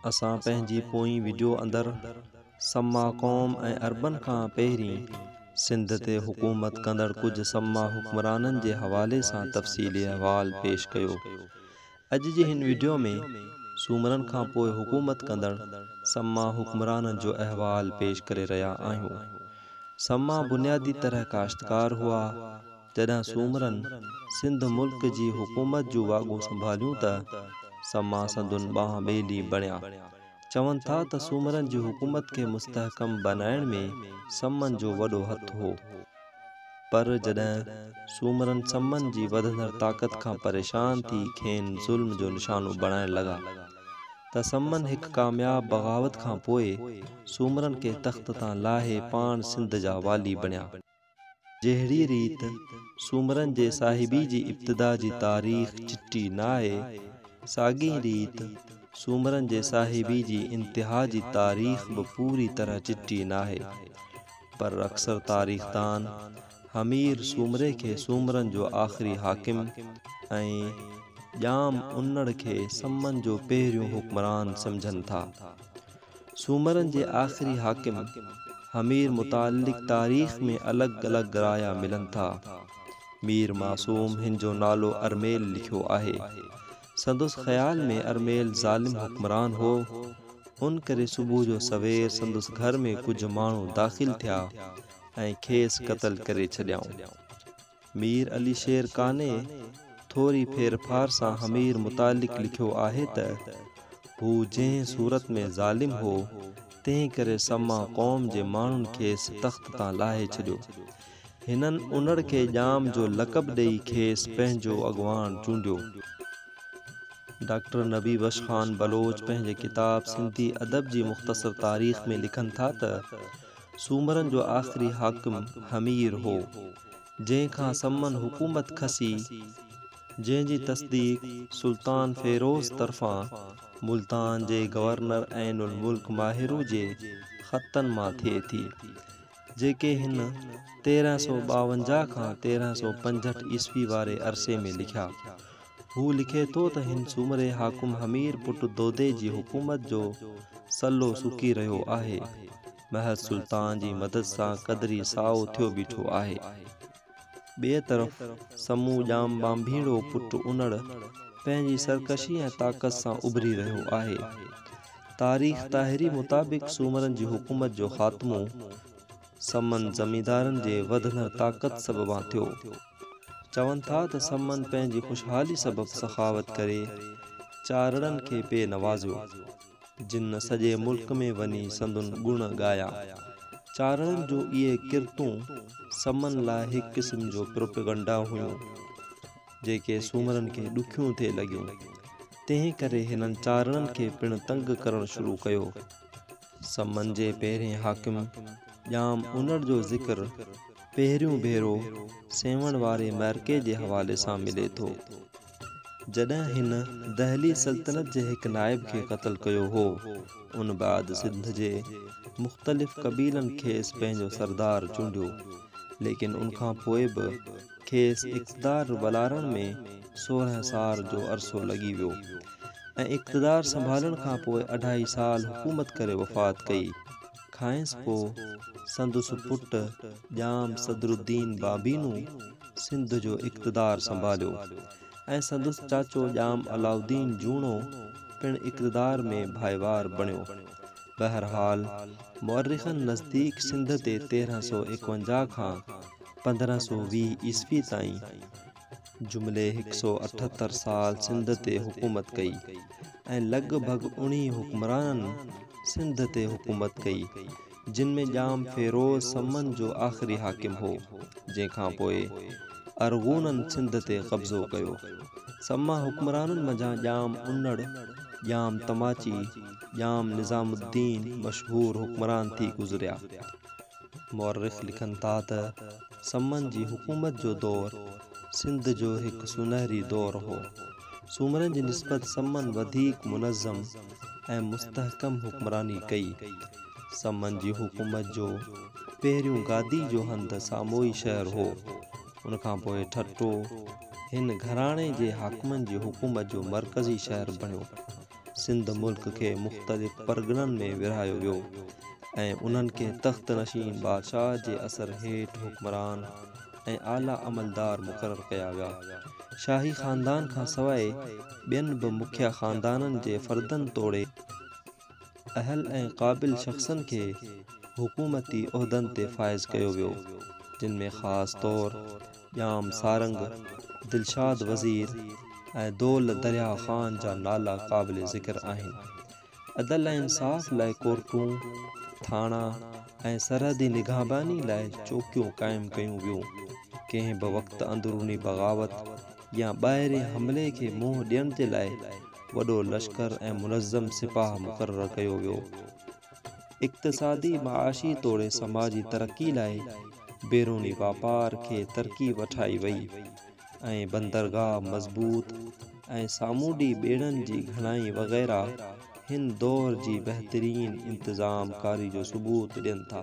اسان پنهنجي پوئين وڊيو اندر سما قوم ۽ عربن کان پهرين سنڌ تي حڪومت ڪندڙ ڪجهه سما حڪمرانن جي حوالي سان تفصيلي احوال پيش ڪيو. اڄ جي هن وڊيو ۾ سومرن کان پوء حڪومت ڪندڙ سما حڪمرانن جو احوال پيش ڪري رهيا آهيون. سما بنيادي طرح ڪاشتڪار هئا. جڏهن سومرن سنڌ ملڪ جي حڪومت جون واڳون سنڀاليون ته سما سندن ٻانهن ٻيلي بڻيا. چون ٿا ته سومرن جي حڪومت کي مستحڪم بنائڻ ۾ سمن جو وڏو هٿ هو. پر جڏهن سومرن سمن جي وڌندڙ طاقت کان پريشان ٿي کين ظلم جو نشانو بڻائڻ لڳا ته سمن هڪ ڪامياب بغاوت کان پوء سومرن کي تخت تان لاهي پاڻ سنڌ جا والي بڻيا. جهڙي ريت سومرن جي صاحبي جي ابتدا جي تاريخ چٽي ناهي، ساڳئي ريت سومرن جي صاحبي جي انتها جي تاريخ به پوري طرح چٽي ناهي. پر اڪثر تاريخدان همير سومري کي سومرن جو آخري حاڪم ۽ ڄام انڙ کي سمن جو پهريون حڪمران سمجهن ٿا. سومرن جي آخري حاڪم همير متعلق تاريخ ۾ الڳ الڳ رايا ملن ٿا. مير معصوم هن جو نالو ارميل لکيو آهي. سندس خيال ۾ ارميل ظالم حڪمران هو. ان ڪري صبح جو سوير سندس گهر ۾ ڪجهه ماڻهو داخل ٿيا ۽ کيس قتل ڪري ڇڏيائون. مير علي شير قانع ٿوري ڦير ڦار سان حمير متعلق لکيو آهي ته، هو جنهن صورت ۾ ظالم هو، تنهن ڪري سما قوم جي ماڻهن کيس تخت تان لاهي ڇڏيو. هنن انڙ کي ڄام جو لقب ڏيئي کيس پنهنجو اڳواڻ چونڊيو. ڊاڪٽر نبي بخش خان بلوچ پنهنجي ڪتاب سنڌي ادب جي مختصر تاريخ ۾ لکن ٿا ته، سومرن جو آخري حاڪم همير هو، جنهن کان سمن حڪومت کسي، جنهن جي تصديق سلطان فيروز طرفان ملتان جي گورنر عين الملڪ ماهرو جي خطن مان ٿئي ٿي، جيڪي هن تيرهن سؤ ٻاونجاهه کان تيرهن سؤ پنجهٺ عيسوي واري عرصي ۾ لکيا. هو لکي ٿو ته هن سومري حاڪم همير پٽ دودي جي حڪومت جو سلو سڪي رهيو آهي. محض سلطان جي مدد سان قدري سائو ٿيو بيٺو آهي. ٻئي طرف سمو ڄام ٻانڀيڙو پٽ انڙ پنهنجي سرڪشي ۽ طاقت سان اڀري رهيو آهي. تاريخ طاهري مطابق سومرن جي حڪومت جو خاتمو سمن زميندارن جي وڌندڙ طاقت سببان ٿيو. چون ٿا ته سمن پنهنجي خوشحالي سبب سخاوت ڪري چارڙن کي پي نوازيو، جن سڄي ملڪ ۾ وڃي سندن گڻ ڳايا. چارڙن جون اهي ڪرتون سمن لاء هڪ قسم جو پروپيگنڊا هيون، جيڪي سومرن کي ڏکيون ٿي لڳيون. تنهن ڪري هنن چارڙن کي پڻ تنگ ڪرڻ شروع ڪيو. سمن جي پهرين حاڪم ڄام انڙ جو ذڪر پهريون ڀيرو سيوهڻ واري معرڪي جي حوالي سان ملي ٿو، جڏهن هن دهلي سلطنت جي هڪ نائب کي قتل ڪيو هو. ان بعد سنڌ جي مختلف قبيلن کيس پنهنجو سردار چونڊيو، ليڪن ان کان پوء به. کيس اقتدار والارڻ ۾ سورهن سال جو عرصو لڳي ويو ۽ اقتدار سنڀالڻ کان پوء اڍائي سال حڪومت ڪري وفات ڪئي. کانئس پوء سندس پٽ ڄام صدرالدين بابينو سنڌ جو اقتدار سنڀاليو ۽ سندس چاچو ڄام علاؤالدين جوڻو پڻ اقتدار ۾ ڀائيوار بڻيو. بهرحال مؤرخن نزديڪ سنڌ تي تيرهن سؤ ايڪونجاهه کان پندرهن سؤ ويهه عيسوي تائين جملي هڪ سؤ اٺهتر سال سنڌ تي حڪومت ڪئي ۽ لڳ ڀڳ اڻهين حڪمرانن سنڌ تي حڪومت ڪئي جن ۾ ڄام فيروز سمن جو آخري حاڪم هو جنهن کان پوء ارغونن سنڌ تي قبضو ڪيو سما حڪمرانن منجهان ڄام انڙ ڄام تماچي ڄام نظام الدين مشهور حڪمران ٿي گذريا. مؤرخ لکن ٿا ته سمن جي حڪومت جو دور سنڌ جو هڪ سونهري دور هو. سومرن جي نسبت سمن وڌيڪ منظم ۽ مستحڪم حڪمراني ڪئي. سمن جي حڪومت جو پهريون گادي جو هنڌ ساموئي شهر هو. ان کان پوء ٺٽو هن گهراڻي جي حاڪمن جي حڪومت جو مرڪزي شهر بڻيو. سنڌ ملڪ کي مختلف پرڳڻن ۾ ورهايو ويو ۽ انهن کي تخت نشين بادشاهه جي اثر هيٺ حڪمران ۽ اعليٰ عملدار مقرر ڪيا ويا. شاهي خاندان کان سواء ٻين به مکيه خاندانن جي فردن توڙي اهل ۽ قابل شخصن کي حڪومتي عهدن تي فائز ڪيو ويو جن ۾ خاص طور ڄام سارنگ، دلشاد وزير ۽ دول درياء خان جا نالا قابل ذڪر آهن. عدل ۽ انصاف لاء ڪورٽون، ٿاڻا ۽ سرحدي نگهباني لاء چوڪيون قائم ڪيون ويون. ڪنهن به وقت اندروني بغاوت يا ٻاهرين حملي کي منهن ڏيڻ جي لاء وڏو لشڪر ۽ منظم سپاهه مقرر ڪيو ويو. اقتصادي، معاشي توڙي سماجي ترقي لاء بيروني واپار کي ترقي وٺائي وئي ۽ بندرگاهه مضبوط ۽ سامونڊي ٻيڙن جي گهڻائي وغيره هن دور جي بهترين انتظام ڪاري جو ثبوت ڏين ٿا.